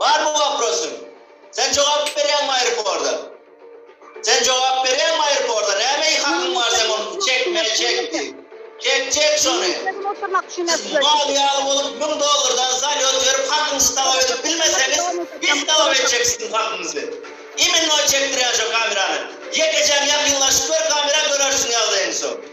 Barmy waprosyň? Sen jogap berýäňmi aeroporda? Sen jogap berýäňmi aeroporda? Näme hakyň bar seň ony çekme çek diýip. Çek çek şony. Siz mal ýaly bolup müň dollardan zalýot berip hakyňyzy talap edip bilmeseňiz biz talap etjek siziň hakyňyzy. Imennoý çekdirýän şo kamerany. Ýekejäň ýakynlaşyp gör kamera görersiň ýagdaýyňy soň.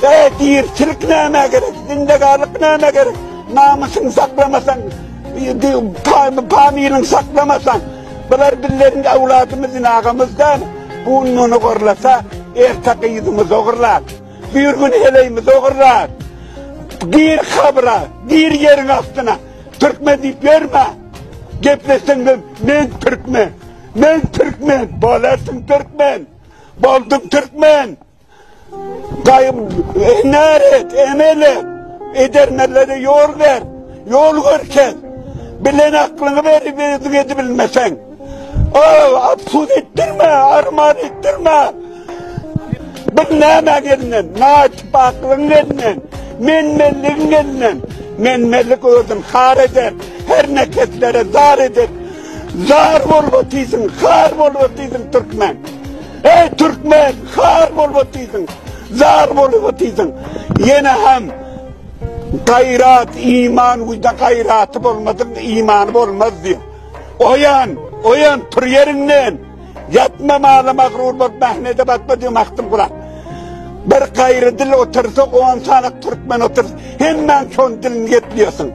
Kädirçilik nämä gerek? Zindegarlyk nämä gerek? Namysyňy saklamasaň, panyňy saklamasaň, bular bizleriň öwladymyzdyr, agamyz däl. Bu gün muny gorlasa, erte gyzymyzy ogurlar. Bir gün heleýimizi ogurlar. Gir kabra, gir ýeriň astyna. Türkmen diýip ýörme. Gepleşseň, men türkmen. Men Türkmen, bolarsyn Türkmen, boldum Türkmen. Gaýym, enar et, emel et, edermenlere ýol ber, ýol görkez. Bilen aklyňy berip, özüň edip bilmeseň. Ol, absud etdirme, arman etdirme. Bir näme elinden, naçip aklyň elinden, menmenligiň elinden. Menmenlik özün har eder, her neketlere zar eder. Zar bolup otysyň, har bolup otysyň türkmen. Ey türkmen, har bolup otysyň, zar bolup otysyň. Ýene hem gaýrat, iman, uýda gaýraty bolmadyň, imany bolmaz diýip. Oýan, oýan tur ýerinden. Ýatma mala magrur bolup mähnede batma diýip Magtym Guran. Bir gaýry dil otursa, on sany türkmen otur. Hemmäň şon dilini ýetliýärsiň.